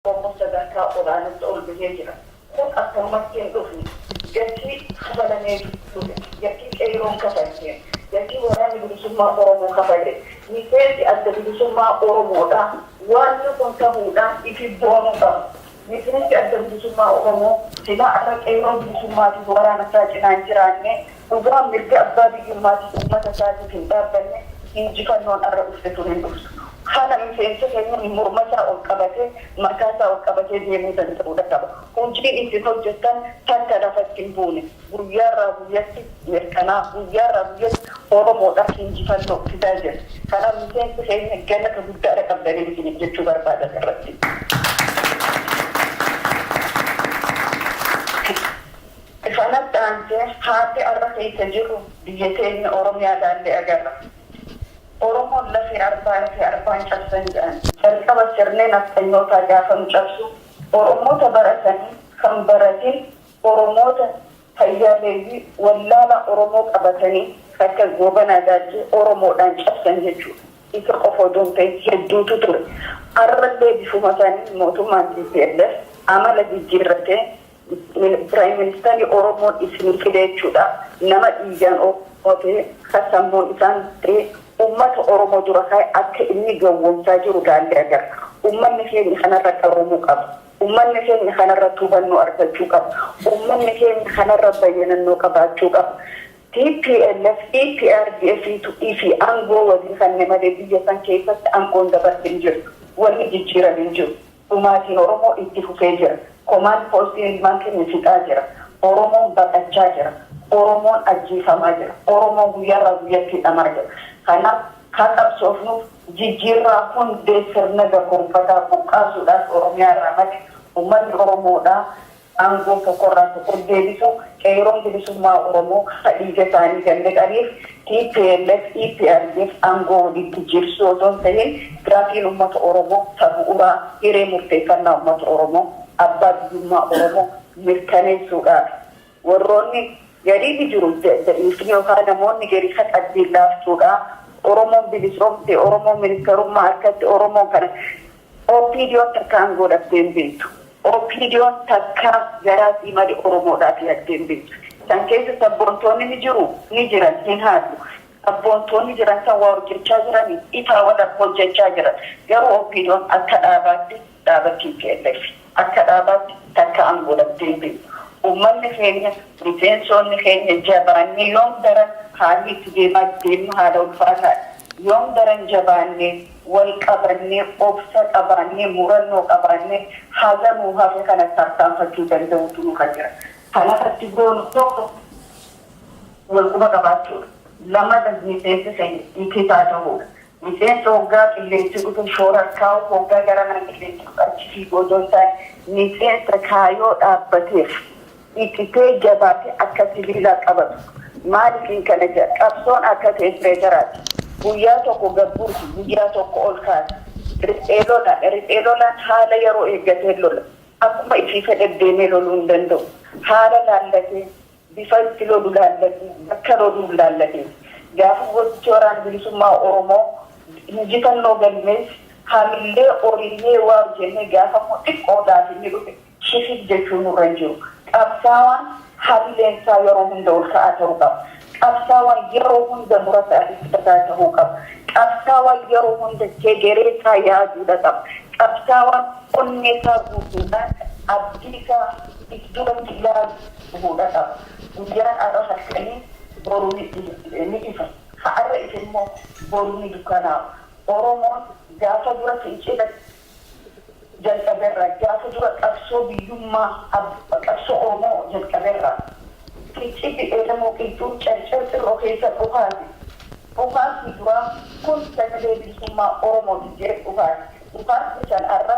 Oromoon sadarkaa olaanatti ol bahee jira. Kun akkanumatti hin dhufne. Gatii kafalameetu dhufe. Gatii Qeeyroon kafalteen, gatii Waraanni Bilisummaa Oromoo kafaleen, miseensi Adda Bilisummaa Oromoodhaa waanni kun tahuudhaaf ifiif boonuu qaba. Miseensi Adda Bilisummaa Oromoo silaa arra Qeeyroo Bilisummaatiif waraana isaa cinaa hin jiraanne. Dhugaa mirga abbaa biyyummaatiif ummata isaatiif hin dhaabbanne injifannoon arra dhufte tun hin dhuftu. Kana miseensi keenya morma isaa ol qabatee, mataa isaa ol qabatee deemuu danda'uu dha qaba. Hujiin isin hojjattan takka lafatti hin buune. Guyyaa irraa guyyatti mirkanaa'a. Guyyaa irraa guyyatti Oromoo dhaaf injifannoo fidaa jira. Kanaaf miseensi keenya galata guddaa dha qabdanin isiniif jechuu barbaada as irratti. Kanatti aansee haalli ar'a keessa jirru biyya teenya Oromiyaa ilaallee agarra. Oromoon lafee arbaa lafee arbaan cabsan jedhan. Jalqaba sirni nafxanyootaa gaafa nu cabsu Oromoota baratanii kan baratin Oromoota fayyaaleeyyii wallaalaa Oromoo qabatanii kan akka Goobanaa Daajjee Oromoodhaan cabsan jechuudha. Isa qofa odoo hin ta'in hedduutu ture. Ar'allee bifuma saniin mootummaan tplf amala jijjiirratee Prime minister oromoon isinii fide jechuudha nama dhiigaan oromoo ta'e ka sammuun isaan ta'e ummata oromoo dura kaa'e akka inni gawwoomsaa jiru laallee agarra ummanni keenya kanarra qaroomuu qaba ummanni keenya kanarratti hubannoo argachuu qaba ummanni keenya kanarra bayyanannoo qabaachuu qaba tplf eprdf tu ifi angoo walii kanne malee biyya san keessatti angoon dabarte hin jirtu wanni jijjiirame hin jiru. dhumaatiin Oromoo itti fufee jira. Komaand poostiin ilmaan keenya fixaa jira. Oromoon baqachaa jira. Oromoon ajjeefamaa jira. Oromoon guyyaarraa guyyatti hidhamaa jira. Kanaaf haa qabsoofnuuf jijjiirraa hundee sirna gabromfataa buqqaasuudhaaf Oromiyaarraa maqe ummanni Oromoodhaa Aangoon tokko irraa tokkoon deebisuu Qeeyroon Bilisummaa Oromoo ka dhiiga isaanii gannaqaniif tplf, EPRDF aangoo walitti jiibsuu otoo hin tahin gaafiin ummata Oromoo ta bu'uraa hiree murteeffannaa ummata Oromoo, abbaa biyyummaa Oromoo mirkaneessuudhaafi. Warroonni garii ni jiru da'ifni yookaa namoonni garii ka qalbiin laaftuudha. Oromoon bilisoomte, Oromoon ministarummaa arkatte, Oromoon kana OPDOn takka aangoo dhabdee hin beektu. OPDOn takka garaa fi mada Oromoodhaaf yaaddee hin beektu. San keessa sabboontoonni ni jiru? Ni jiran, hin haallu. Sabboontoonni jiran san waa hojjachaa jirani? Ifaa wala hojjachaa jiran. Garuu OPDOn akka dhaabaatti dhaaba tplf. Akka dhaabaatti takka an godhattee hin beektu. Uummanni keenya, miseensoonni keenya jabaannee yoom daran haalli itti deemaa deemnu haala ulfaataadha. Yoom daran jabaannee, wal qabannee, obsa qabaannee, murannoo qabaannee haga nuu hafe kana tarkaanfachuu danda'uutu nurra jira. Kan irratti goonu tokko wal quba qabaachuudha. Lamata miseensi keenya itti haa tahuudha. Miseensa oggaa qilleensi dhufu shoorar kaa'u, oggaa gara mana qilleensi dhufu achi fiigu odoo hin taane, miseensa kaayoo dhaabbateef ititee jabaatee akka sibiilaa qabatu. Maaliifin kana jedha? Qabsoon akka teempireecharaati. Guyyaa tokko gad buusu, guyyaa tokko ol kaasa. Riphee lolaan, riphee lolaan haala yeroo eeggateen lola. Akkuma ifii fedhe deemee loluu hin danda'u. Haala laallatee. Bifa itti lolu laallatii bakka loluun laallatee gaafa goottichi Waraana Bilisummaa Oromoo injifannoo galmeesse hamillee oriinee waaw jennee gaafa immoo xiqqoo laafinnee dhufe shifif jechuun nurra hin jiru. Qabsaawaan hamileen isaa yeroo hunda ol ka'aa ta'uu qaba. Qabsaawaan yeroo hunda murataa fi kutataa ta'uu qaba. Qabsaawaan yeroo hunda hegeree isaa yaaduu dha qaba. Qabsaawaan onnee isaa guutuudhaan abdii isaa if duratti ilaaluu. Dhufu dhasa guyyaan ar'a halkanii boru ni ifa ha ar'a ife immoo boru ni dukkanaawa oromoon gaafa dura fincila jalqaberraa gaafa dura qabsoo biyyummaa qabsoo oromoo jalqaberraa fincilli eelemoo qilxuu carcar xirroo keessa dhukaase dhukaasni duraa kun sagalee bilisummaa oromooti jedhe dhukaase dhukaasni san ar'a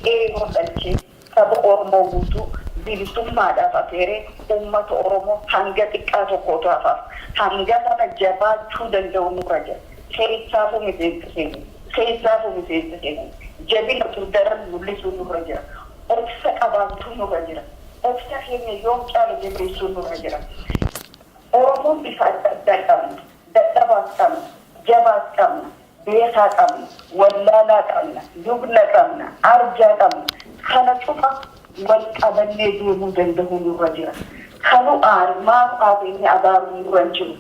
qeerroo dhalche Saba Oromoo guutuu bilisummaadhaaf afeeree uummata Oromoo hanga xiqqaa tokko utuu hafaaf hanga kana jabaachuu danda'u nurra jira. Keessaafuu miseensa keenya. Keessaafuu miseensa keenya. Jabina utuu daran mul'isuun nurra jira. Obsa qabaachuun nurra jira. Obsa keenya yoom caala jabeessuun nurra jira. Oromoon bifa adda addaa qabna. Dadhabaas qabna. Jabaas qabna. beekaa qabna, wallaalaa qabna, lubna qabna, arjaa qabna, kana cufa wal qabannee deemuu dandahuu nurra jira. Ka nu aare, maaf aate inni abaaru nurra hin jiru.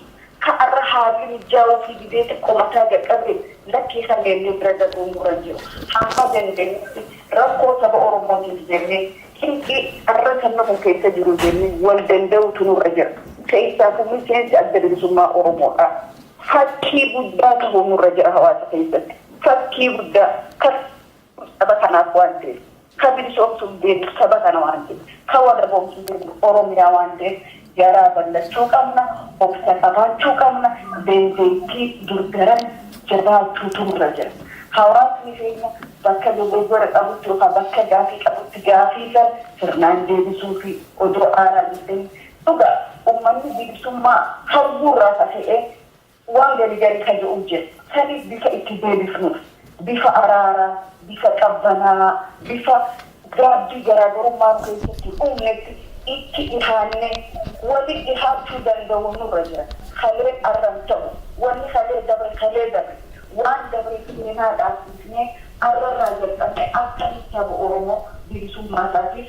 Ka arra haalli mijjaawuufii dideeti komataa jalqabe lakkii ka meennee bira dabruu nurra hin jiru. Hamma dandeenyutti rakkoo saba Oromootiif jennee, cinqii arra sabni kun keessa jiru jennee wal dandahuutu nurra jira. Keessaafuu miseensi Adda Bilisummaa Oromoodhaa. Fakkii guddaa tahuu nurra jira hawaasa keessatti. Fakkii guddaa. Ka duutu saba kanaaf waan ta'eef, ka bilisoomsuuf deemtu saba kana waan ta'eef, ka walaboomsuuf deemtu Oromiyaa waan ta'eef garaa ballachuu qabna, obsa qabaachuu qabna, dandeettii dur daran jabaachuutu nurra jira. Hawaasni keenya bakka dogoggora qabutti yookaan bakka gaafii qabutti gaafii san sirnaan deebisuufii odoo aaraa hin tahin Dhugaa ummanni bilisummaa hawwuu irraa kaka'ee waan gari gari ka je'uu jira. Saniif bifa itti deebifnuuf, bifa araaraa, bifa qabbanaa'aa, bifa gaabbii garaagarummaa nu keessatti hin uumnetti itti dhihaannee waliin dhihaachuu danda'uun nurra jira. Kaleen arra hin ta'u. Wanni kalee dabre kalee dabre. Waan dabre seenaa dhaabsisnee arra irraa jalqabnee akkamitti saba Oromoo bilisummaa isaatiif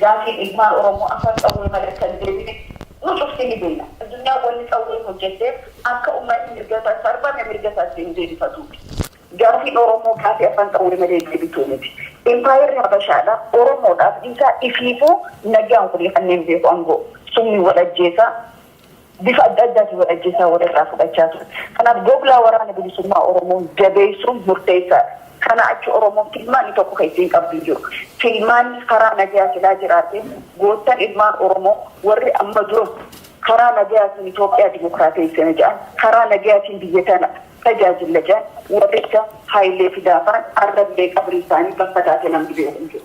Gaafiin ilmaan Oromoo afaan qawwee malee akka hin deebine nu cufti ni beeyna. Addunyaan wanni qawween hojjatteef akka ummanni mirga isaa sarbame mirga isaa itti hin deebifatuufi. Gaafiin Oromoo gaafii afaan qawwee malee deebituu miti. Impaayerri Habashaadha, Oromoodhaaf dhiisaa ifiifuu nagaan walii kanneen beeku angoo summiin wal ajjeesaa bifa adda addaatiin wal ajjeesaa wal irraa fudhachaa ture. Kanaaf googlaa waraana bilisummaa Oromoo jabeessuun murteessaadha. Kanaa achi Oromoon filmaanni tokko kan isiin qabdu hin jiru. Filmaanni karaa nagayaa silaa jiraatee goottan ilmaan Oromoo warri amma dura karaa nagayaatiin Itoophiyaa dimokiraateessina jedhan, karaa nagayaatiin biyya tana tajaajilla jedhan warri akka Hayilee Fidaafaan arrallee qabrii isaanii bakka taate namni beeku hin jiru.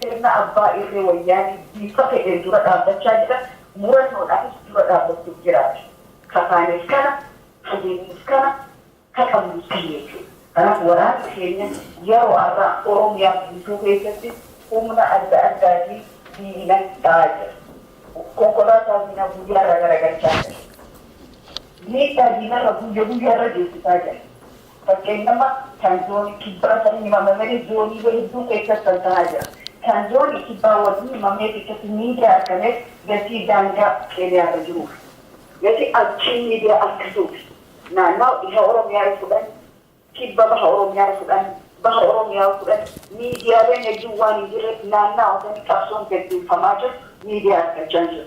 Sirna abbaa irree wayyaanee bifa fedheen dura dhaabbachaa jira, murannoodhaanis dura dhaabbachuuf jiraati. Ka taanes kana, ka deemnus kana, ka qabnus kana jechuudha. Kanaaf waraanni keenya yeroo arraa Oromiyaa guutuu keessatti humna adda addaatiin diina dha'aa jira. Konkolaataa diinaa guyyaa irraa garagalchaa jira. Miidhaa diinarra guyya guyyaa irra geessisaa jira. Fakkeenyaaf kan zoonii kibbaa sanii himamameni zooniilee hedduu keessatti tamsahaa jira. Kan zoonii kibbaa wagni himamee keessatti miidiyaa argameef gatii daangaa Keeniyaa irra jiruuf. Gatii achiin miidiyaa arkatuuf naannawa dhiha Oromiyaa yoo fudhanne, kibba baha Oromiyaa yoo fudhanne, baha Oromiyaa yoo fudhanne miidiyaaleen hedduun waan hin jirreef naannawa sanii qabsoon gaggeeffamaa jiru miidiyaa arkachaa hin jiru.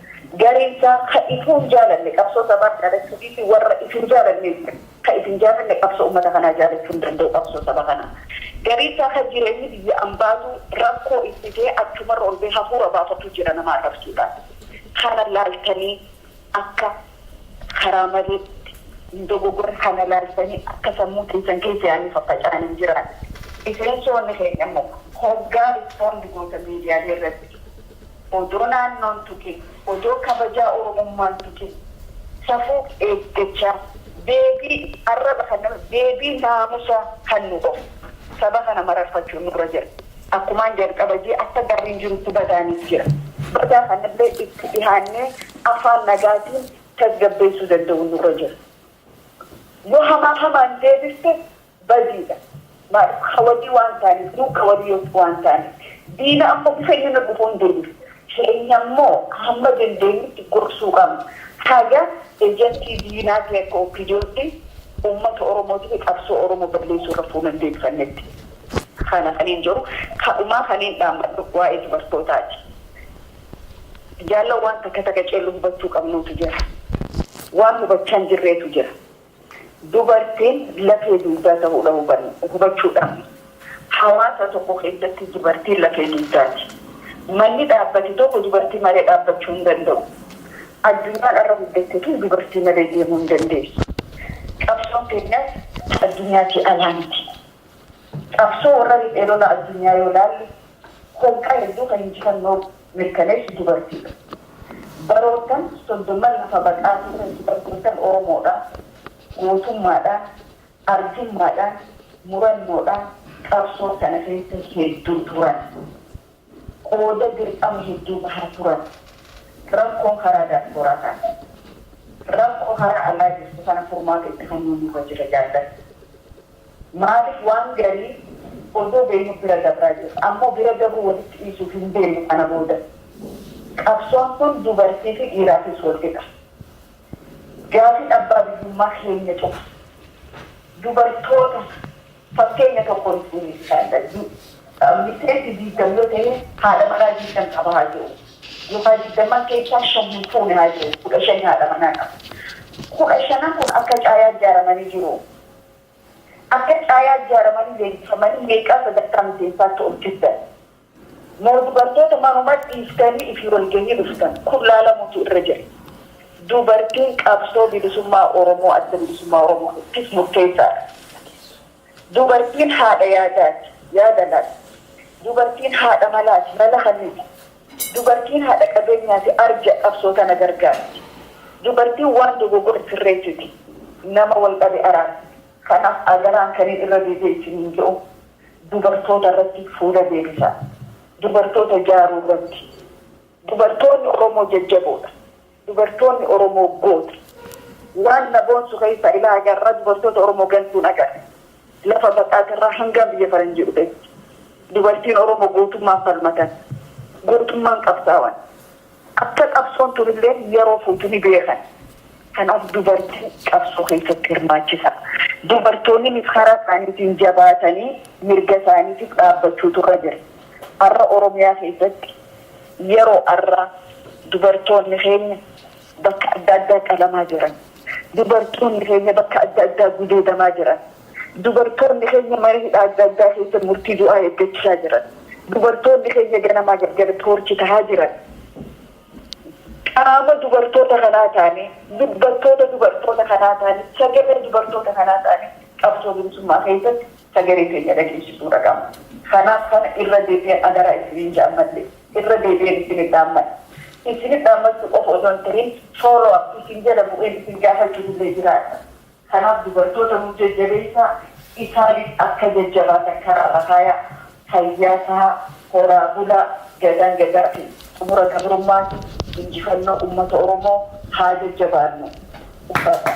Gareen isaa ka ituu hin jaalanne qabsoo sabaa jaalachuu dhiisii warra ituu hin jaalanne illee ka itti hin jaalanne qabsoo ummata kanaa jaalachuu hin danda'u qabsoo saba kanaa. Garii isaa ka jireenyi biyya ambaatu rakkoo itti ta'e achumarra ol ba'ee hafuura baafatuu jira nama arrabsuudhaan. Kana laaltanii akka karaa maleetti hin dogogoran, kana laaltanii akka sammuu teessan keessa yaadni faffaca'aan hin jiraanne. Miseensoonni keenya immoo hoggaa respond gootan miidiyaalee irratti odoo naannoo hin tuqin, odoo kabajaa Oromummaa hin tuqin, safuu eeggachaa, deebii arraba kan nama, deebii naamusaa kan nu of saba kana mararfachuun nurra jira. Akkumaan jalqaba jee akka gaariin jirutti badaanis jira. Badaa kanallee itti dhihaannee afaan nagaatiin tasgabbeessuu danda'uun nurra jira. Yoo hamaa hamaan deebifte badiidha. Maaliif ka walii waan taaneef, nuun ka walii waan taaneef. Diina ammoo bifa inni nurra dhufuun deebifna. Keenya ammoo hamma dandeenyutti gorsuu qabna. Haga ejentii diinaa ta'e akka OPDOtti uummata Oromootii fi qabsoo Oromoo balleessuu irra fuula hin deebifannetti. Kana kaniin jedhu, kadhumaa kaniin dhaammadhu waa'ee dubartootaati. Jaallan waan takka takka cellu hubachuu qabnuutu jira. Waan hubachaa hin jirreetu jira. Dubartiin lafee dugdaa tahuudha hubanne, hubachuu dhabne. Hawaasa tokko keessatti dubartiin lafee dugdaati. Manni dhaabbate tokko dubartii malee dhaabbachuu hin danda'u. Addunyaan har'a guddatte tun dubartii malee deemuu hin dandeessu. Qabsoon teenyas addunyaatii alaa miti. Qabsoo warra riphee lola addunyaa yoo ilaalle holqa hedduu kan injifannoo mirkaneessu dubartiidha. Baroottan soddomman lafa baqaa turan dubartoottan Oromoodhaa gootummaadhaan, arjummaadhaan, murannoodhaan qabsoo kana keessa hedduu turan. Qooda dirqama hedduu bahaa turan. Rakkoo karaa daaspooraa kaase. Rakkoo karaa alaa jirtu kana furmaata itti kennuu nurra jira jaallan. Maaliif waan garii odoo beeynuu bira dabraa jirra. Ammoo bira dabruu walitti dhiisuuf hin deemnu kana booda. Qabsoon tun dubartii fi dhiiraafis wal qixa. Gaafiin abbaa biyyummaa keenya cufa. Dubartoota fakkeenya tokkoon isin geessisaa hin dhaggin. Miseensi 20 yoo tahe haadha manaa 20 qaba haa je'u. Yookaa 20n keessaa 5 hin fuune haa je'u. 15 haadha manaa qaba. 15n kun akka caayaa ijaaramanii jiru. Akka caayaa ijaaramanii leenjifamanii meeqaa sadarkaa miseensaatti ol fiddan? Moo dubartoota manuma dhiiftanii ifi walgahii dhuftan? Kun laalamuutu irra jira. Dubartiin qabsoo bilisummaa Oromoo, Adda Bilisummaa Oromoo, ttif murteessaadha. Dubartiin haadha yaadaati, yaada laatti. Dubartiin haadha malaati, mala kenniti. Dubartiin haadha qabeenyaati arja qabsoo tana gargaarti. Dubartiin waan dogogore sirreessiti, nama wal dhabe araarti. Kanaaf adaraan kanin irra deebi'ee isiniin je'u dubartoota irratti fuula deebisaa. Dubartoota jaaruu irratti. Dubartoonni Oromoo jajjaboodha. Dubartoonni Oromoo goota. Waan na boonsu keessaa ilaa haga har'aa dubartoota Oromoo gantuun agarre. Lafa Baqaat irraa hangaan biyya faranjii dhufetti. Dubartiin Oromoo gootummaan falmatan. Gootummaan qabsaawan. Akka qabsoon tun illee yeroo fuutu ni beekan. Kanaaf dubartiin qabsoo keessatti hirmaachisaa. Dubartoonninis karaa isaaniitiin jabaatanii mirga isaaniitiif dhaabbachuutu irra jira. Har'a Oromiyaa keessatti Yeroo arraa dubartoonni keenya bakka adda addaa qalamaa jiran. Dubartoonni keenya bakka adda addaa gudeedamaa jiran. Dubartoonni keenya mana hidhaa adda addaa keessa murtii du'aa eeggachaa jiran. Dubartoonni keenya ganamaa galgala toorchi tahaa jiran. Qaama dubartoota kanaa taanee, dubbattoota dubartoota kanaa taanee, sagalee dubartoota kanaa taanee qabsoo bilisummaa keessatti sagalee teenya dhageessisuu dha qabna. Kanaaf kana irra deebi'een adaraa isiniin ja'a ammallee irra deebi'een isinit dhaammadha. Isinit dhaammachuu qofa osoo hin tahin follow up isin jala bu'een isin gaafachuuf illee jiraadha. Kanaaf dubartoota nuuf jajjabeessaa, isaanis akka jajjabaatan karaarra kaayaa. Fayyaa tahaa, horaa bulaa, Gadaan Gadaatiin xumura gabrummaati, injifannoo ummata Oromoo haa jajjabaannu! Ulfaadhaa!